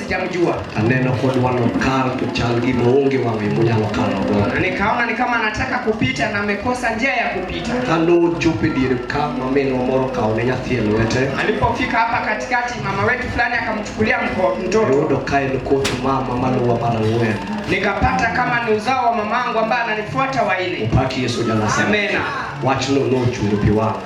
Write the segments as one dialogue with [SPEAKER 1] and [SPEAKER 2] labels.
[SPEAKER 1] Sijamjua. Aneno kod wano
[SPEAKER 2] kal to chal gi maonge wang'e monyalo kalo go. Nikaona ni kama
[SPEAKER 1] anataka kupita na amekosa njia ya kupita. Kano chope
[SPEAKER 2] diere ka mameno moro kao ne nyathi e lwete. Alipofika hapa
[SPEAKER 1] katikati mama wetu fulani akamchukulia mtoto. Rodo kae ni kot
[SPEAKER 2] mama maluwa mara ng'wen. Nikapata kama
[SPEAKER 1] ni uzao wa mamangu ambaye ananifuata waine. Upaki Yesu jana sana.
[SPEAKER 2] Amena. Wachno nochungo pi wang'o.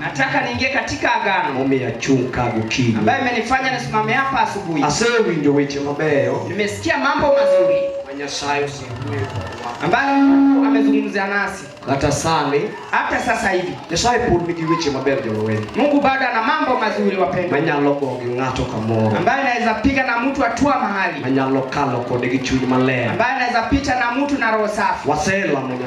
[SPEAKER 2] Nataka niingie katika
[SPEAKER 1] agano. Momiyo achung' ka
[SPEAKER 2] gokinyi. Ambaye imenifanya nisimame
[SPEAKER 1] hapa asubuhi. Asewinjo weche
[SPEAKER 2] mabeyo. Nimesikia mambo
[SPEAKER 1] mazuri. Ma
[SPEAKER 2] Nyasaye osewuoyo
[SPEAKER 1] kodwa. Ambayo amezungumzia nasi. Hata sani.
[SPEAKER 2] Hata sasa hivi.
[SPEAKER 1] Nyasaye pod nigi weche
[SPEAKER 2] mabeyo jowawili. Mungu bado ana mambo
[SPEAKER 1] mazuri wapendwa. Manyalo go gi ng'ato
[SPEAKER 2] kamoro. Ambaye anaweza piga na
[SPEAKER 1] mtu atua mahali. Manyalo kalo kode
[SPEAKER 2] gi chuny maler. Ambaye anaweza pita na
[SPEAKER 1] mtu na roho safi. Waselamo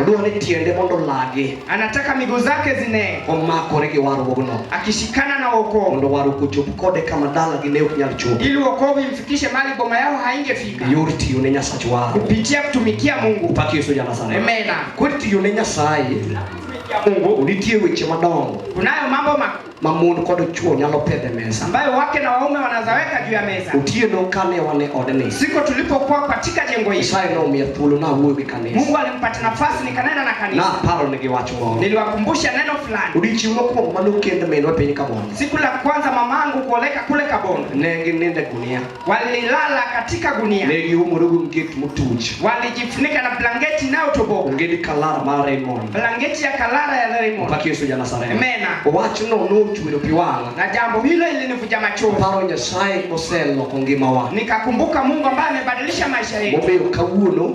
[SPEAKER 1] Odwaro ni tiende mondo
[SPEAKER 2] olagi. Anataka miguu zake
[SPEAKER 1] zine. Omakore gi warruogno.
[SPEAKER 2] Akishikana na wokovu.
[SPEAKER 1] Mondo warruok ochop kode
[SPEAKER 2] kama dalagi ne ok nyal chopo. Ili wokovu imfikishe
[SPEAKER 1] mahali boma yao haingefika. Yor tiyo ne Nyasach
[SPEAKER 2] waro. Kupitia kutumikia
[SPEAKER 1] Mungu. Paki Yesu jana sana. Amen.
[SPEAKER 2] Kwa tiyo
[SPEAKER 1] ne Nyasaye.
[SPEAKER 2] Mungu nitie weche madongo. Kunayo mambo makubwa.
[SPEAKER 1] mamon kod
[SPEAKER 2] chuo nyalo pedhe mesa ambayo wake na waume
[SPEAKER 1] wanazaweka juu ya meza. otieno kane wane
[SPEAKER 2] odni Siku tulipokuwa
[SPEAKER 1] katika jengo hili, isaye nomiya thuolo
[SPEAKER 2] nawuoyo gi kanisa Mungu alimpata nafasi
[SPEAKER 1] nikanena na kanisa, naparo nigi wach moro
[SPEAKER 2] niliwakumbusha neno
[SPEAKER 1] fulani. odiechieng' mokwongo
[SPEAKER 2] manokend minwa piny kamondo Siku la kwanza
[SPEAKER 1] mamangu kuoleka kule Kabondo, ne ginindo e gunia
[SPEAKER 2] walilala
[SPEAKER 1] katika gunia, ne giumore gi mkek
[SPEAKER 2] motuch, walijifunika na
[SPEAKER 1] blanketi inayotoboka, onge ni kalara mar
[SPEAKER 2] Raymond, blanketi ya kalara
[SPEAKER 1] ya Raymond. Mpaka Yesu Janasareth,
[SPEAKER 2] amena. Wachno
[SPEAKER 1] nochwero
[SPEAKER 2] pi wang'a, na jambo hilo
[SPEAKER 1] ilinivuja machozi. Paro Nyasaye
[SPEAKER 2] moseloko ngimawa, nikakumbuka Mungu ambaye
[SPEAKER 1] amebadilisha maisha yetu, momiyo kawuono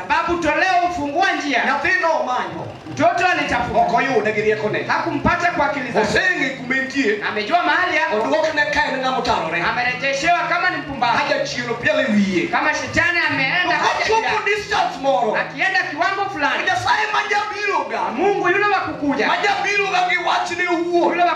[SPEAKER 3] Sababu toleo
[SPEAKER 1] ufungua njia. Nyathino omanyo.
[SPEAKER 3] Mtoto alitafuta.
[SPEAKER 1] Ok oyude gi riekone.
[SPEAKER 3] Hakumpata kwa akili zake.
[SPEAKER 1] Oseng'e kuma entie.
[SPEAKER 3] Amejua mahali yako.
[SPEAKER 1] Oduokne ka en ng'ama
[SPEAKER 3] otarore. Amerejeshewa kama ni
[SPEAKER 1] mpumbavu. Haja chielo piele
[SPEAKER 3] wiye. Kama shetani
[SPEAKER 1] ameenda haja. Chopo distance
[SPEAKER 3] moro. Akienda kiwango
[SPEAKER 1] fulani. Nyasaye majabiroga.
[SPEAKER 3] Mungu yule wa
[SPEAKER 1] kukuja. Majabiroga gi
[SPEAKER 3] wachne uo. Yule wa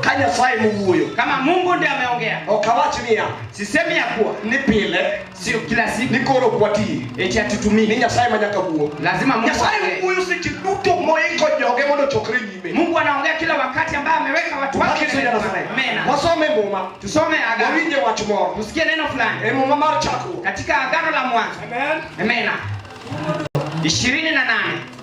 [SPEAKER 3] kanya swai muwuyo kama Mungu ndiye
[SPEAKER 1] ameongea okawach niya
[SPEAKER 3] sisemi ya kuwa
[SPEAKER 1] ni pile
[SPEAKER 3] sio kila siku ni
[SPEAKER 1] koro kwati
[SPEAKER 3] eti atutumii ni
[SPEAKER 1] nyasaye manyaka wuo
[SPEAKER 3] lazima Mungu nyasaye
[SPEAKER 1] wuyo seche
[SPEAKER 3] duto moiko joge mondo chokre nyime Mungu anaongea kila wakati
[SPEAKER 1] ambaye ameweka watu wake mena wasome muma
[SPEAKER 3] tusome agano wawinje
[SPEAKER 1] wach moro tusikie
[SPEAKER 3] neno fulani e
[SPEAKER 1] muma mar chako
[SPEAKER 3] katika agano la
[SPEAKER 1] mwanzo amen amen 28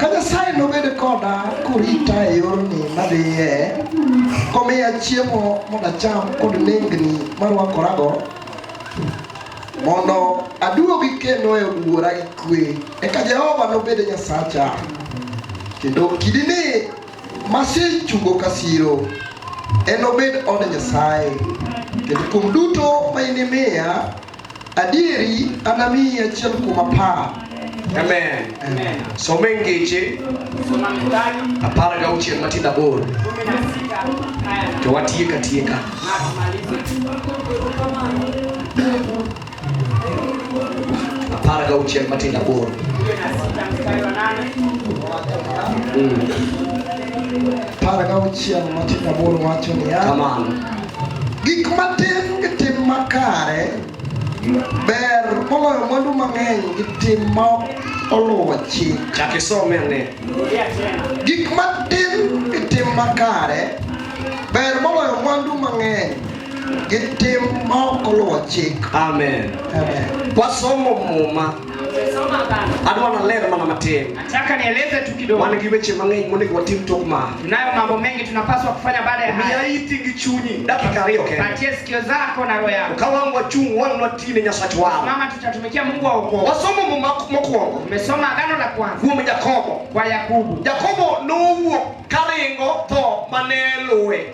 [SPEAKER 2] Ka Nyasaye nobed koda korita e yorni madhiye, komiya chiemo mondo acham kod nengni marwakorago, mondo aduogi kendo e od wuora gi kwe, eka Jehova nobed Nyasacha, kendo kidini masechungo ka siro enobed od Nyasaye, kendo kuom duto ma inimiya Adieri anamiyi achiel kuom apar. Amen. Amen.
[SPEAKER 3] Some
[SPEAKER 1] ngeche apar ga auchiel matindo
[SPEAKER 3] aboro to watieka tieka. Apar ga auchiel matindo aboro. Mm.
[SPEAKER 2] Apar ga auchiel matindo aboro wacho niya. Kamano.
[SPEAKER 3] Gik
[SPEAKER 2] matin gi tim makare ber moloyo mwandu mang'eny gi tim ma oluwo chik. Chak isome ane.
[SPEAKER 3] Gik
[SPEAKER 2] matin gi tim makare ber moloyo mwandu mang'eny gi tim ma ok oluwo chik. Amen.
[SPEAKER 3] Amen.
[SPEAKER 2] Wasomo muma.
[SPEAKER 3] Adwa naler mana matin. Nataka nieleze tu
[SPEAKER 1] kidogo. Wan gi weche mang'eny monego
[SPEAKER 3] watim tok ma. Tunayo mambo mengi
[SPEAKER 1] tunapaswa kufanya baada ya haya. Miya iti gi chunyi
[SPEAKER 3] dakika ariyo kende. Patie sikio zako
[SPEAKER 1] na roho yako. Ka wan wachung' wan
[SPEAKER 3] watii ne Nyasach waro. Mama, tutatumikia Mungu
[SPEAKER 1] wa wokovu. Wasomo Muma
[SPEAKER 3] mokwongo. Tumesoma agano la
[SPEAKER 1] kwanza. Kuom Jakobo. Kwa
[SPEAKER 3] Yakobo.
[SPEAKER 1] Jakobo nowuok
[SPEAKER 3] karingo tho mane luwe.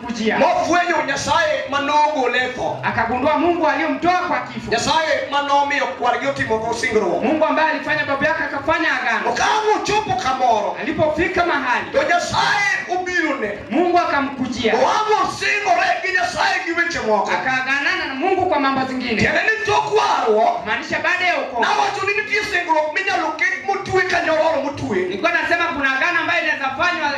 [SPEAKER 1] kujia. Nofwenyo Nyasaye
[SPEAKER 3] ma nogole e tho. Akagundua Mungu
[SPEAKER 1] aliyomtoa kwa kifo. Nyasaye ma nomiyo
[SPEAKER 3] kwargi otimogo singruok. Mungu ambaye alifanya baba
[SPEAKER 1] yake akafanya agano. Okamo chopo
[SPEAKER 3] kamoro. Alipofika mahali.
[SPEAKER 1] To Nyasaye
[SPEAKER 3] obiro ne. Mungu akamkujia.
[SPEAKER 1] Oamo singore
[SPEAKER 3] gi Nyasaye gi weche moko. Akaganana na Mungu
[SPEAKER 1] kwa mambo zingine. Tiende ni tok
[SPEAKER 3] warruok. Maanisha baada ya wokovu.
[SPEAKER 1] Nawacho ni nitie singruok
[SPEAKER 3] minyalo ket motue ka nyororo motue. Nilikuwa nasema kuna
[SPEAKER 1] agano ambayo inaweza fanywa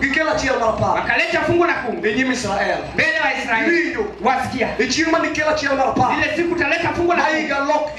[SPEAKER 1] Gikela
[SPEAKER 3] chiel mar par. Wakaleta fungu la kumi.
[SPEAKER 1] E nyim Israel.
[SPEAKER 3] Mbele wa Israeli. Winjo.
[SPEAKER 1] Wasikia. E
[SPEAKER 3] chieng' ma
[SPEAKER 1] nikela
[SPEAKER 3] chiel
[SPEAKER 1] mar
[SPEAKER 3] par.
[SPEAKER 1] Ile
[SPEAKER 3] siku
[SPEAKER 1] taleta
[SPEAKER 3] fungu
[SPEAKER 1] la kumi. Aiga
[SPEAKER 3] lok